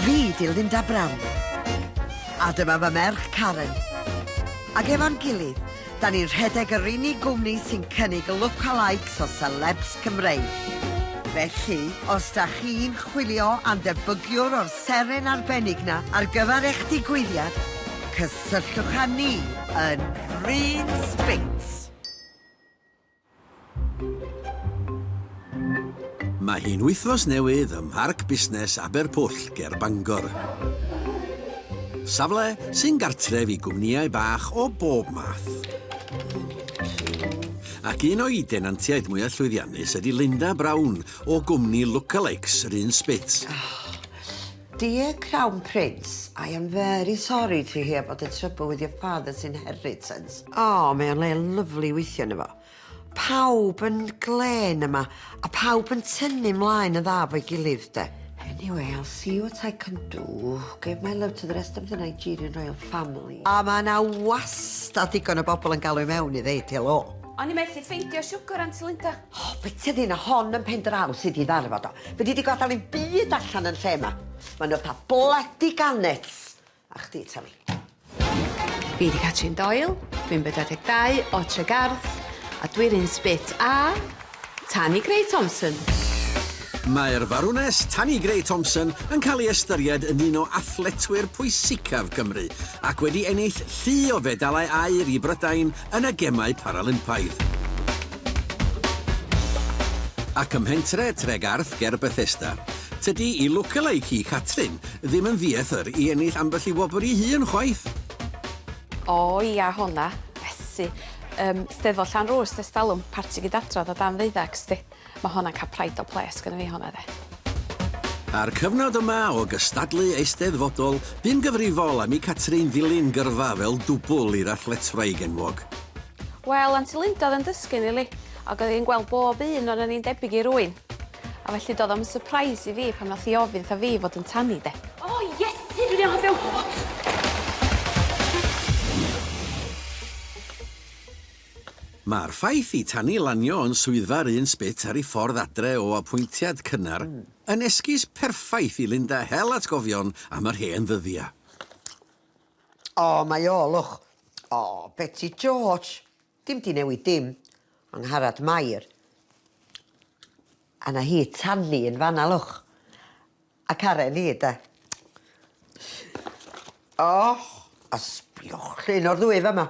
Fi di Linda Brown. A dyma fy merch Karen. Ac efo'n gilydd, da ni'n rhedeg yr unig gwmni sy'n cynnig lookalikes o celebs Cymreig. Felly, os da chi'n chwilio am ddebygiwr o'r seren arbennig na ar gyfer eich digwyddiad, cysylltwch â ni yn Green Spinks. Mae hi'n wythnos newydd ym Mharc Busnes Aberpwll ger Bangor. Safle sy'n gartref i gwmnïau bach o bob math. Ac un o'i denantiaid mwyaf llwyddiannus ydy Linda Brown o gwmni Lookalikes, Run Spit. Dear Crown Prince, I am very sorry to hear about the trouble with your father's inheritance. Oh, mae o'n le lyfli weithio yno fo. Pawb yn glen yma, a pawb yn tynnu mlaen yn dda fo'i gilydd, de. Anyway, I'll see what I can do. Give my love to the rest of the Nigerian royal family. A mae yna wastad digon o bobl yn galw i mewn i ddeud helo. O'n i methu ffeindio siwgr, Aunty Linda. O, byta di na hon yn pen draw sy di ddarfod o. Fedri di gadael i'm byd allan yn lle ma. Ma nhw fatha bloody gannets. A chdi ta fi. Fi di Catrin Doyle, dwi'n bedwar deg dau o Tregarth, a dwi'r un sbit a Tani Grey Thompson. Mae'r Farwnes Tani Grey Thompson yn cael ei ystyried yn un o athletwyr pwysicaf Cymru ac wedi ennill llu o fedalau aur i Brydain yn y Gemau Paralympaidd. Ac ym mhentre Tregarth ger Bethesda, tydi i lookalike hi, Catrin, ddim yn ddieithr i ennill ambell i wobr i hun chwaith! O ia hona, Betsi. Yym, Steddfod Llanrwst ers talwm, parti gyd-adrodd o dan ddeuddag, 'sdi. Mae honna'n cael pride o ples gynna fi honna de. A'r cyfnod yma o gystadlu eisteddfodol, bu'n gyfrifol am i Catrin ddilyn gyrfa fel dwbwl i'r athletwraig enwog. Wel, Aunty Linda oedd yn dysgu Nili, ac oedd hi'n gweld bob un ohonon ni'n debyg i rywun. A felly doedd o'm yn sypreis i fi pan wnaeth hi ofyn wrtha fi fod yn tanny de. O Iesu, dwi'n anghofio! Mae'r ffaith i Tani lanio yn swyddfa'r un sbyt ar ei ffordd adre o apwyntiad cynnar yn esgus perffaith i Linda hel atgofion am yr hen ddyddia. O, mae o, look. O, Beti George! Dim 'di newid dim. Angharad Mair. A 'na hi, Tani, yn fanna, look. A Karen hi, 'de. O, a sbiwch, llun o'r ddwy fama.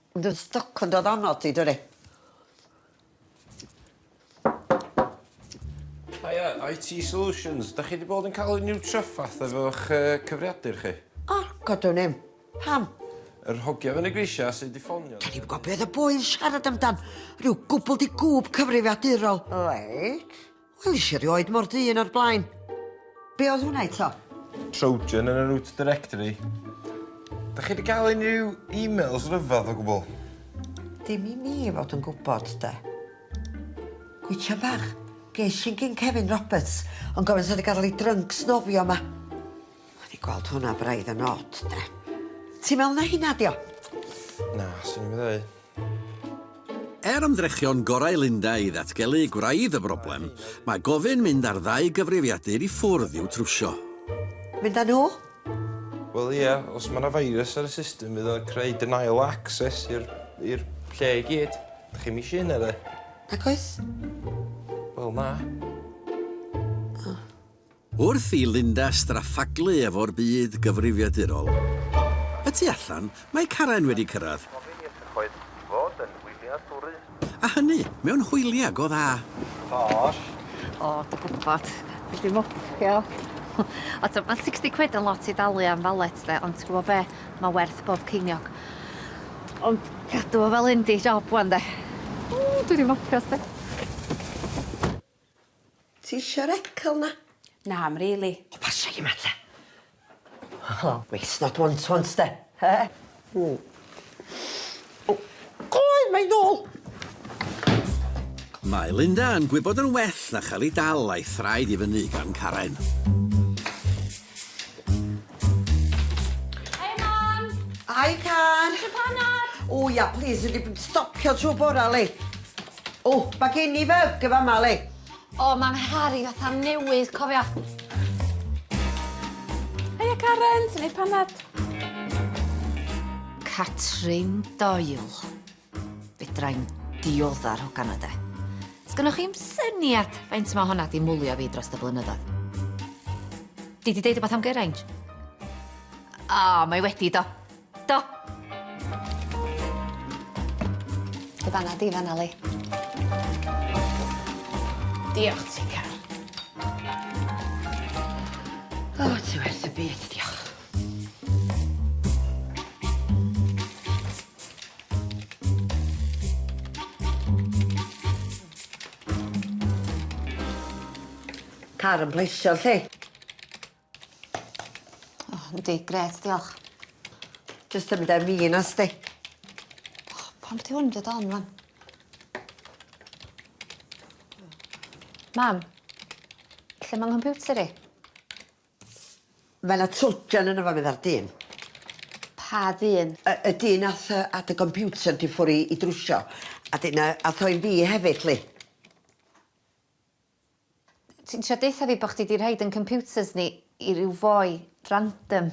Ond yn stoc yn dod onno ti, dydi? Hiya, IT Solutions. Dach chi wedi bod yn cael unrhyw traffath efo'ch uh, cyfriadur chi? O, godwn im. Pam? Yr hogia yn y grisia sydd wedi ffonio. Da ni'n gwybod beth y boi yn siarad amdan. Rhyw gwbl di gwb cyfrifiadurol. Reit. Welis i erioed mor ddu un o'r blaen. Be oedd hwnna eto? Trojan yn y root directory. Da chi wedi cael unrhyw e-mails rhyfedd o gwbl? Dim i mi fod yn gwybod, de. Gwytio bach. Ges i'n gyn Kevin Roberts, ond gofyn sa wedi gadael ei drunk snofio yma. O'n i gweld hwnna braidd yn od, de. Ti'n meddwl na hynna dio? Na, swn i'n meddwl. Er ymdrechion gorau Linda i ddatgelu gwraidd y broblem, mae gofyn mynd â'r ddau gyfrifiadur i ffwrdd i'w trwsio. Mynd â nhw? Wel ie, os mae 'na virus ar y system fydd o'n creu denial of access i'r i'r lle i gyd. Dach chi'm isio hynna 'de? Nagoes. Wel na. O. Wrth i Linda straffaglu efo'r byd gyfrifiadurol y tu allan, mae Karen wedi cyrraedd, a hynny mewn hwyliau go dda. Gosh. O, dw gwbod. Dwi 'di mopio. O t'o' ma' sixty quid yn lot i dalu am valet 'de ond ti gwbo be'? Ma' werth bob ceiniog. Ond cadw o fel hyn 'di job ŵan 'de. Ww dwi 'di mopio sti. Ti isio'r ecal 'na? Na, 'm rili. O pasio hi ma te. Helo. Waste not want to want 'sti? He? Ww. O! Cloi! Mae 'i nôl! Mae Linda yn gwybod yn well na chael ei dal a'i thraed i fyny gan Karen. Hiya, Mam! Hi, Car! Isio panad? O ia, plîs, dwi 'di bod yn stopio trw bora li. O, mae gen i fe! Gyfa Mali! O, mae'n Harry fatha newydd, cofia. Heia, Karen! Ti'n neud panad? Catrin Doyle. Fedrai'n dioddar hogan o de. Sgynnoch chi'm syniad faint mae honna di mwlio fi dros y blynyddoedd. Di di deud o beth am Geraint? O, mae wedi do. Do. Dy fana di fan 'na Lee. Diolch ti Car. O ti werth y byd diolch. Car yn pleisio 'lly. O yndi grêt diolch. Jyst symud â fi yn os 'di. O pam ti ddim deud o am ŵan? Mam, lle ma' nghymputer i? Ma' 'na trojan yno fo medda'r dyn. Pa ddyn? Y y dyn ath yy â dy gomputer di ffwr i i drwsio a 'dyn yy ath o i fi hefyd 'ly. Ti'n trio deutha fi bo chdi di rhoid yn computers ni i ryw foi random?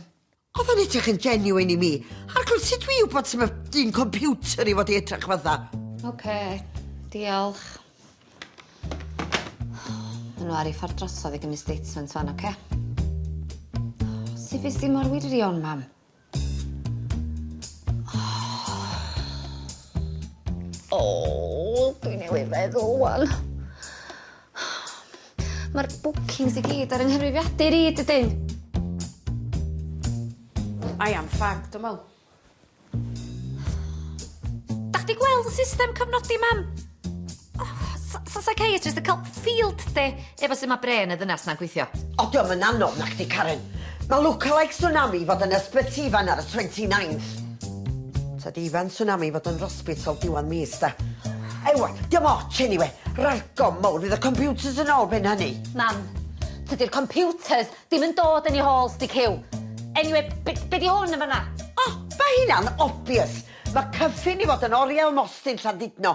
Oedd o'n edrych yn genuine i mi. Arglwydd, sut dwi i wybod sut mae dyn computer i fod i edrych fatha? Ok, diolch. Maen nhw ar ei ffordd drosodd i gymryd statement fan, ok? Sut fes di mor wirion, mam? Oh, dwi newydd feddwl wan. Mae'r bookings i gyd ar yng nghyfrifiadur i, dydyn? I am fagged, dwi'n meddwl. Da chdi gweld y system cyfnodi, mam? Sa psychiatrist yn cael field day efo sut mae bren y ddynas na'n gweithio. O, diolch yn anodd na chdi, Karen. Mae lookalike Tsunami fod yn ysbyty fan ar y 29th. Ta di fan Tsunami fod yn rospital diwan mis, da. Ewa, diolch ots, anyway. Ralgo mowr, fydd y computers yn ôl ben hynny. Mam, tydi'r computers ddim yn dod yn ei hôl, sti cyw. Anyway, be, be di hwn yn fanna? O, mae hynna'n obvious. Mae cyffin i fod yn oriel mostyn Llandudno,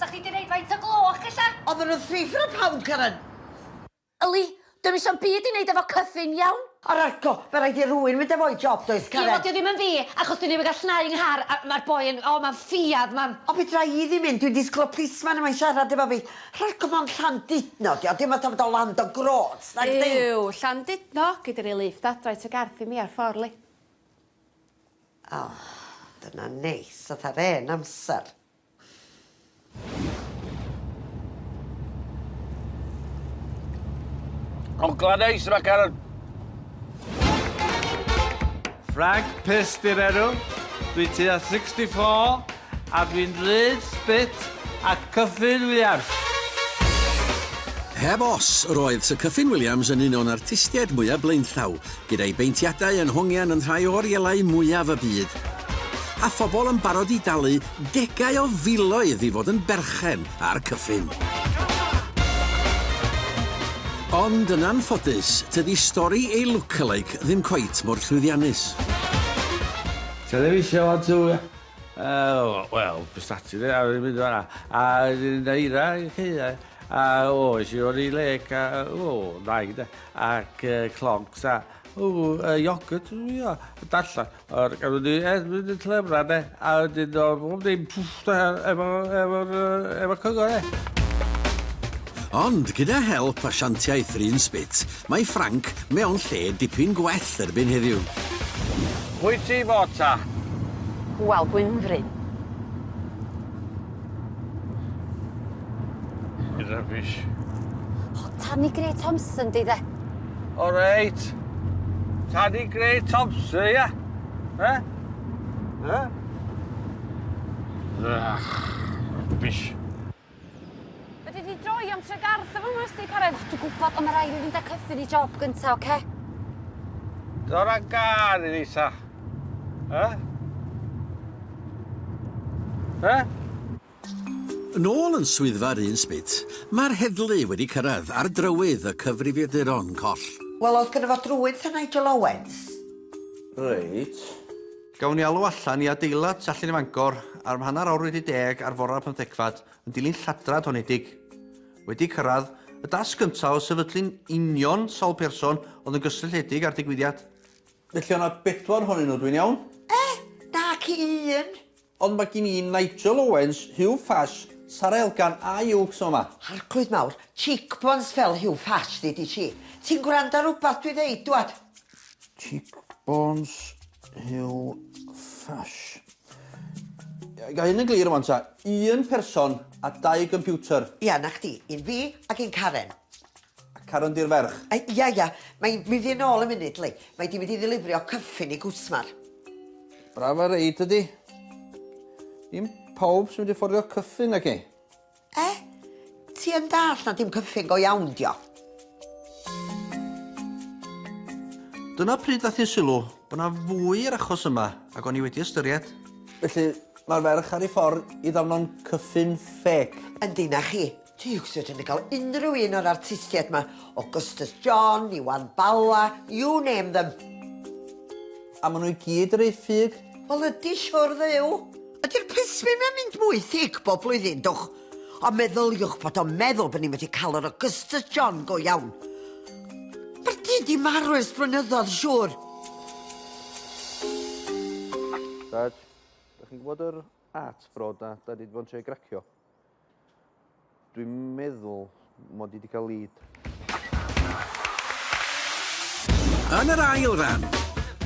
Sa chdi di neud faint o gloch ella? Odd yn wrthrych ar y p'awn Karen! Yli, dwi'm isio'm byd i neud efo cyfun, iawn? Ar arco, ma raid i rwun mynd efo'i job does Karen? Ie wel dio ddim yn fi, achos dwi ddim yn gall nau yng nghar a ma'r boi yn, o ma'n ffiadd ma'n. O fedra i ddim mynd, dwi'n disgwl y plisman yma'n siarad efo fi. Rharco mond Llandudno dio, dim fatha fod o land o grots nag ddim! Yw, Llandudno, gei di roi lift adra i tŷ Garth i mi ar ffor li. O, dyna neis, fatha'r 'en amser. O, Gladys, mae cael... Frank Pestirero, dwi tua 64, a dwi'n rhaid spit a Cyffin Williams. Heb os, roedd Sir Cyffin Williams yn un o'n artistiaid mwyaf blaenllaw, Gyda'i beintiadau yn hongian yn rhai o orielau mwyaf y byd, a phobl yn barod i dalu degau o filoedd i fod yn berchen ar Cyffin. Ond yn anffodus, tydi stori ei lookalike ddim cweit mor llwyddiannus. Television on tŵr ia? Yy wel, Prestatyn ia, a wedyn mynd fan'na, a wedyn Eira, oce ia. A oes, i o'r i le, ca, o, naig de, ac uh, clogs a, o, uh, iogwrt, ia, dalla, o'r gael wedi, e, wedi tlefra de, a wedyn o'r bob ddim, pwff, da, efo, efo, efo cyngor e. Ond gyda help asiantiaeth Rhun Spit, mae Frank mewn lle dipyn gwell erbyn heddiw. Pwy ti fod ta? Wel, Gwynfryn. Rubbish. O, Tanni Grey Thompson di de. O reit. Tanni Grey Thompson, ia? He? He? Ach, rubbish. Fedri di droi am tregarth efo hwnna os ti'n cared? Dwi'n gwybod, ond mae rhaid i fi fynd â cyffur i job gyntaf, oce? Okay? Dod â gar i fi ta. Eh? Eh? Yn ôl yn swyddfa'r un sbit, mae'r heddlu wedi cyrraedd ar drywydd y cyfrifiaduron coll. Wel, oedd gyda fo drwydd ta Nigel Owens? Reit. Gawn ni alw allan i adeilad Tallinn i Fangor ar mhanner awr wedi deg ar fore'r pymthegfad Yn dilyn lladrad honedig. Wedi cyrraedd y dasg gyntaf o sefydlu'n union sawl person oedd yn gysylltiedig â'r digwyddiad. Felly o' 'na bedwar ohonyn nhw, dwi'n iawn? Eh! Nac i un! Ond mae gin i Nigel Owens, Huw Fash, Sara Elgan a Iwcs o 'ma. Arglwydd mawr, cheekbones fel Huw Fash ddi di ti. Ti'n gwrando ar rwbath dwi'n ddeud, dwad? Cheekbones Huw Fash. Ga hyn yn glir rwan ta? Un person a dau gympiwter. Ia, 'na chdi. Un fi ac un Karen. A Karen di'r ferch? A, ia, ia. Mae 'i'n mynd i'n ôl yn munud, Lee. Mae 'di mynd i ddilifrio cyffin i gwsmer. Braf a reid tydi? Dim pawb sy'n mynd i fforddio cyffin, naci? Eh? Ti yn dallt na dim cyffyn go iawn dio? Dyna pryd ddath i'n sylw bod 'na fwy i'r achos yma ag o'n i wedi ystyried. Felly, mae'r ferch ar ei ffordd i ddafno'n cyffyn ffêc? Yndi, 'na chi. Ti wastad yn cael unrhyw un o'r artistiaid 'ma, o Gustas John, Iwan Bala, you name them. A ma' nhw i gyd yr eu ffug. Wel ydi siwr dduw. Ydi'r plismyn yn mynd mwy thic bob blwyddyn, dwch? Ond meddyliwch bod o'n meddwl bod ni'n medru cael yr Augustus John go iawn. Mae'r du di marw ers blynyddoedd, siŵr. Dad, da chi'n gwybod yr art broda da ni di bod yn trio gracio? Dwi'n meddwl mod i 'di cael lead. Yn yr ail ran,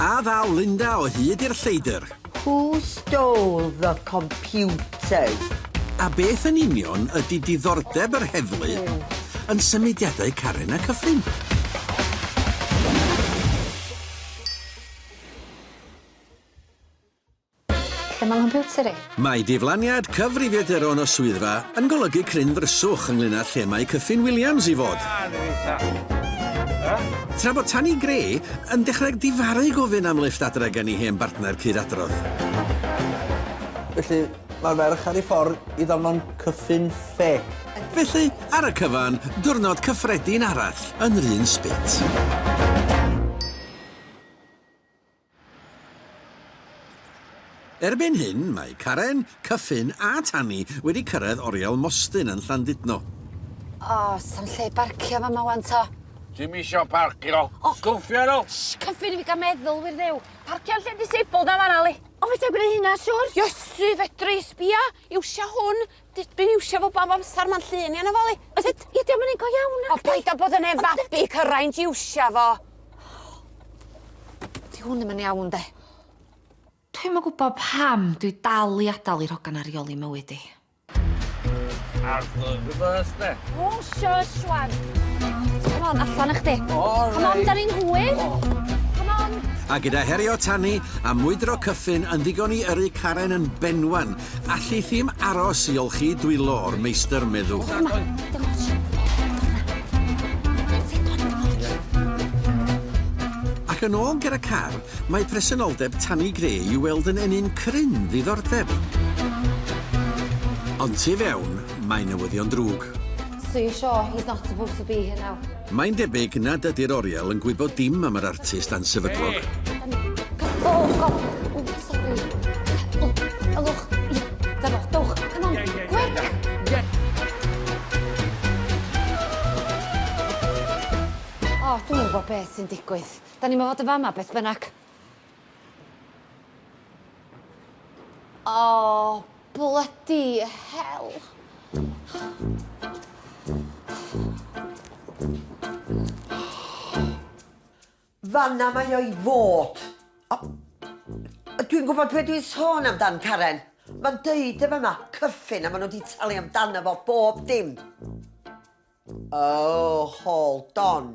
a ddaw Linda o hyd i'r lleidr? Who stole the computers? A beth yn union ydy diddordeb yr heddlu yn symudiadau Karen a Cyffin? Lle mae nghompiwter i? Mae diflaniad cyfrifiaduron o swyddfa yn golygu cryn ddryswch ynglŷn â lle mae Cyffin Williams i fod. Tra bod Tanni Gray yn dechrau difaru gofyn am lifft adre gen i hen bartner cyd-adrodd. Felly, mae'r ferch ar ei ffordd i ddarllen Cyffin Ffêc. Felly, ar y cyfan, diwrnod cyffredin arall yn yr un spit. Erbyn hyn, mae Karen, Cyffin a Tanni wedi cyrraedd Oriel Mostyn yn Llandudno. O, s'am lle barcio fama ŵan to. Ti'm isio parcio? O! Sgwffia nhw! Shh! Cyffin i fi gael meddwl, wir Dduw! Parcio'n lle disabled na fan'na, Li! O, fedra i gwneud hynna, siŵr! Iesu, fedra i! Sbia! Iwsia hwn! D- dwi'n iwsio fo bob amsar, ma'n llun iawn afalu. Ond Did- i- diom yn un go iawn nacdi? O paid â bod yn hen fabi, cyraint iwsio fo. Di hwn ddim yn iawn de. Dwi'm yn gwybod pam dwi dal i adael i'r hogan 'na reoli mywyd i. Arglwydd Rhys de. O shush rwan. Come on, allan â chdi. Come on, 'dan ni'n hwyr. Come on. A gyda herio tanu a mwydro cyffyn yn ddigon i yrru Karen yn benwan Alli thi'm aros i olchi dwylo o'r meistr, meddu. Dyma, dyma ti. Ac yn ôl ger y car, mae presenoldeb Tanni Gray i weld yn ennyn cryn ddiddordeb. Ond tu fewn, mae newyddion drwg. Sue Shaw, he's not supposed to be here now. Mae'n debyg nad ydy'r oriel yn gwybod dim am yr artist ansefydlog. O, dwi'm yn gwybod beth sy'n digwydd. 'Dan ni'm o fod yn fama beth bynnag. Oh, bloody hell. Fanna mae o'i fod. Dwi'n gwybod beth dwi'n sôn amdan, Karen. Mae'n deud y fanna, cyffin, a maen nhw wedi talu amdano fo bob dim. Oh, hold on.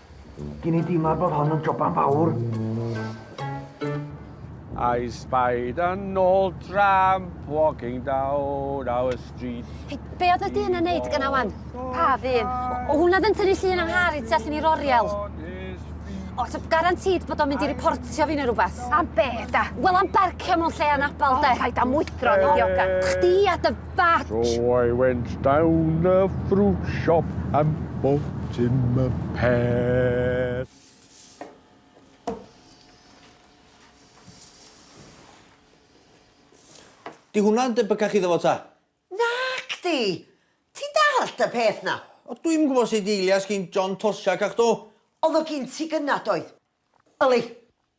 Gyn i deimlad bod hon yn joban fawr. I spied an old tramp walking down our street. Hey, be oedd y dyn yn neud gyna wan? Pa ddyn? O hwnna ddyn tynnu llun am Harry tu allan i'r oriel. O, ti'n garantid bod o'n mynd i reportio fi neu rhywbeth? Am be, da? Wel, am barcio mewn lle anabal, de. O, paid am wydro, ni dioga. Chdi a dy That! So I went down the fruit shop and bought him a pear. Di hwnna'n debycach iddo fo ta? Nac di! Ti'n dallt y peth na? O, dwi'm yn gwybod sut eilias gin John Toshack a'ch do. Oedd o gin ti gynna doedd? Yli.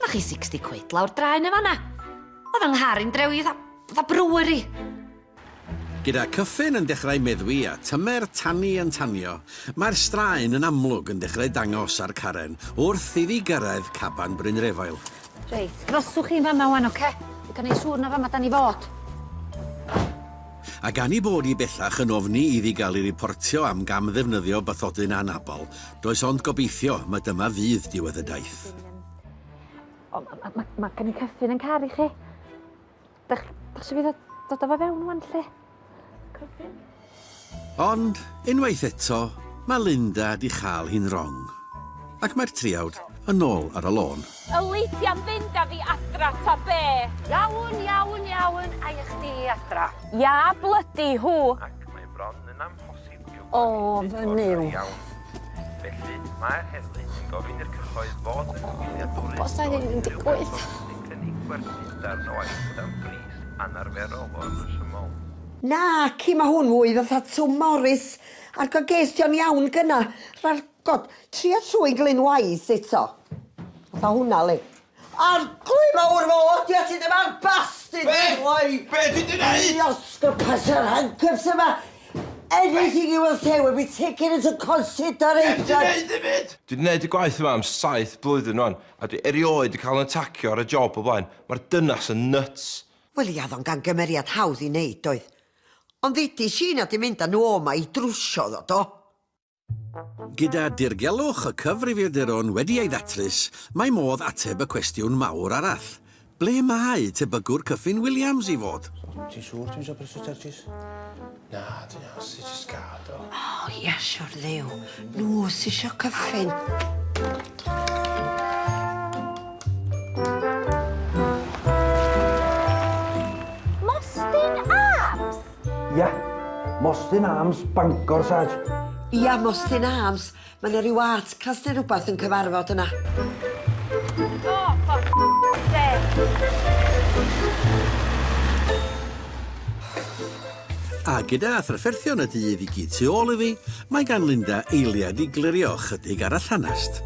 Na chi 60 quid lawr draen yn fanna. Oedd yng nghar i'n drewi dda, dda brewery. Gyda Cyffin yn dechrau meddwi a tymer tanni yn tanio, mae'r straen yn amlwg yn dechrau dangos ar Karen wrth iddi gyrraedd caban Brynrefail. Reit, rhoswch chi'n fanna wan, oce? I gael neud siŵr na fama dan ni fod. A gan i bod i bellach yn ofni iddi gael ei riportio am gam-ddefnyddio bathodyn anabl, does ond gobeithio ma dyma fydd diwedd y daith. O, mae ma, ma gen i cyffin yn car i chi. Dach, dach chi fydd dod o fe fewn o'n lle? Cyffin? Ond, unwaith eto, mae Linda di chael hi'n rong. Ac mae'r triawd yn ôl ar y lôn. Y leithiau'n fynd â fi adra ta be? Iawn, iawn, iawn, a i chdi adra. Ia, blydi, hw! Ac mae bron yn amhosib ofn yw. Felly, mae'r heddlu yn gofyn i'r cyhoedd fod yn wyliadwrus Os da ni'n digwydd. sy'n cynnig gwerthu darn o aifft am bris anarferol o'r rhesymol. Naci, mae hwn fwy fatha Twm Morys a'r goges di o'n iawn gynna. Rha'r, god, tria trwy Glyn Wise eto. Fatha hwnna, li. Arglwydd mawr fy mod i a ti ddim ar bastyn Be? Why? Be ti di neud? Fi osgo pasio'r handcuffs yma Anything you will say will be taken into consideration Be ti neud i fyd? Dwi di neud y gwaith yma am saith blwyddyn rwan a dwi erioed di cael yn atacio ar y job o blaen Mae'r dynas yn nyts! Wel ia oedd o'n gamgymeriad hawdd i neud doedd? Ond ddeudis i nad i mynd a nhw oma i drwsio iddo do? Gyda dirgelwch y cyfrifiaduron wedi ei ddatrys, mae modd ateb y cwestiwn mawr arall, ble mae tebygwr Cyffin Williams i fod? Ti'n siŵr ti'm isio brysio tyrjis? Na, ti'n iawn, ti jyst gad o. O, ia, siwr dduw. Nhw sy isio cyffin. Mostyn Arms! Ia, Mostyn Arms, Bangor, Sarge. Ia, Mostyn Arms. Mae yna rhyw artcast neu rhywbeth yn cyfarfod yna. O, ffocin A gyda thrafferthion y dydd i gyd tu ôl iddi, mae gan Linda eiliad i glirio chydig ar y llanast.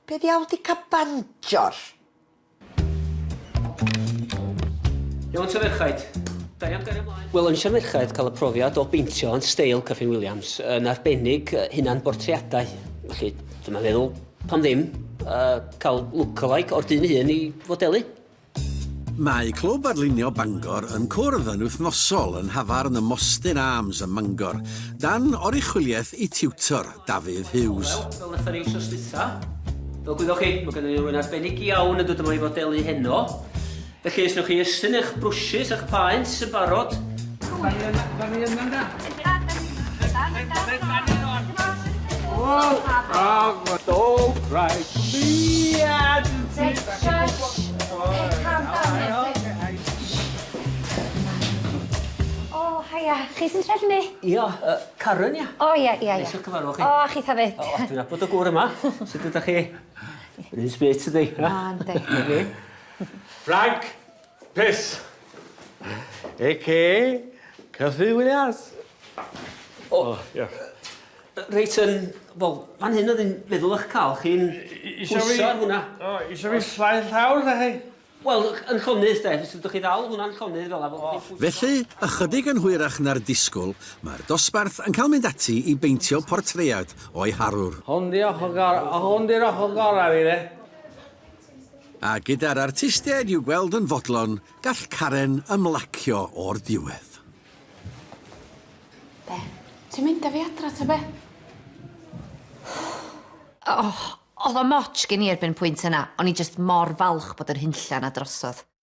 Be ddiawl di ca banjor? Iawn ta ferchaid? Da iawn gario mlaen. Wel o'n isio'r merchaid cael y profiad o beintio yn steil Kyffin Williams, yn arbennig hunan bortreadau. Felly, dyma feddwl, pam ddim, uh, cael lookalike o'r dyn ei hun i fodelu. Mae Clwb Adlunio Bangor yn cwrdd yn wythnosol yn nhafarn y Mostyn Arms ym Mangor, dan oruchwyliaeth eu tiwtor, Dafydd Hughes. Wel, fel wnaethon ni wsos dwytha, fel gwyddoch chi, mae gennym ni rywun arbennig iawn yn dod yma i fodelu heno. Felly, os wnewch chi estyn eich brwshys a'ch paent yn barod. Mae yna, mae yna, mae yna. O haia, chi sy'n trefnu ni? Ia, yy Karen ia? O ia ia ia. Neis i'ch cyfarfod chi. O a chitha 'fyd. O dwi'n nabod y gŵr yma. Sud ydach chi? Run sprit ydi. O yndi. Ffrainc! Piss! Aka Cyffi Williams. O, diolch. Reit, yn, wel, fan hyn oedd yn meddwl eich cael chi'n pwyso ar hwnna. O, eisiau fi slai llawr, da chi? Wel, yn llonydd, de, os ydych chi ddal hwnna'n llonydd fel yna. Felly, ychydig yn hwyrach na'r disgwyl, mae'r dosbarth yn cael mynd ati i beintio portread o'i harwr. Hwn 'di'r ochr gorau fi, de. A gyda'r artistiaid i'w gweld yn fodlon, gall Karen ymlacio o'r diwedd. Be? Ti'n mynd â fi adra ta be? Oh, oedd o moch gen i erbyn y pwynt yna, o'n i jyst mor falch bod yr hunllan a drosodd.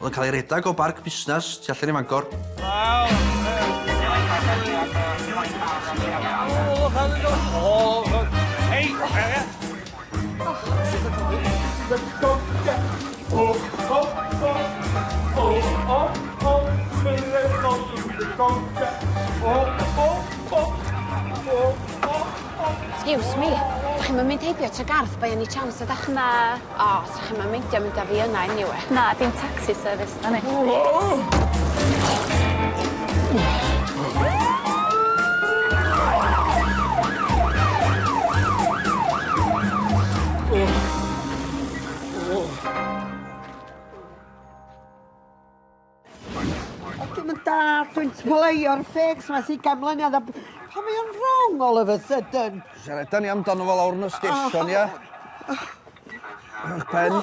Oedd yn cael ei redeg o barc busnes tu allan i Fangor. Excuse me, dach chi'm yn mynd heibio Tregarth by any chance ydach? Na. O, sa chi'm yn meindio mynd â fi yna eniwe? Na, dim tacsi service 'dan ni. O, dim yn da, dwi'n tmleio'r ffegs ma sy'n gan mlynedd a... Pa mae o'n wrong all of a sudden? Siarada ni amdano fo lawr yn y station, ia? Ych pen.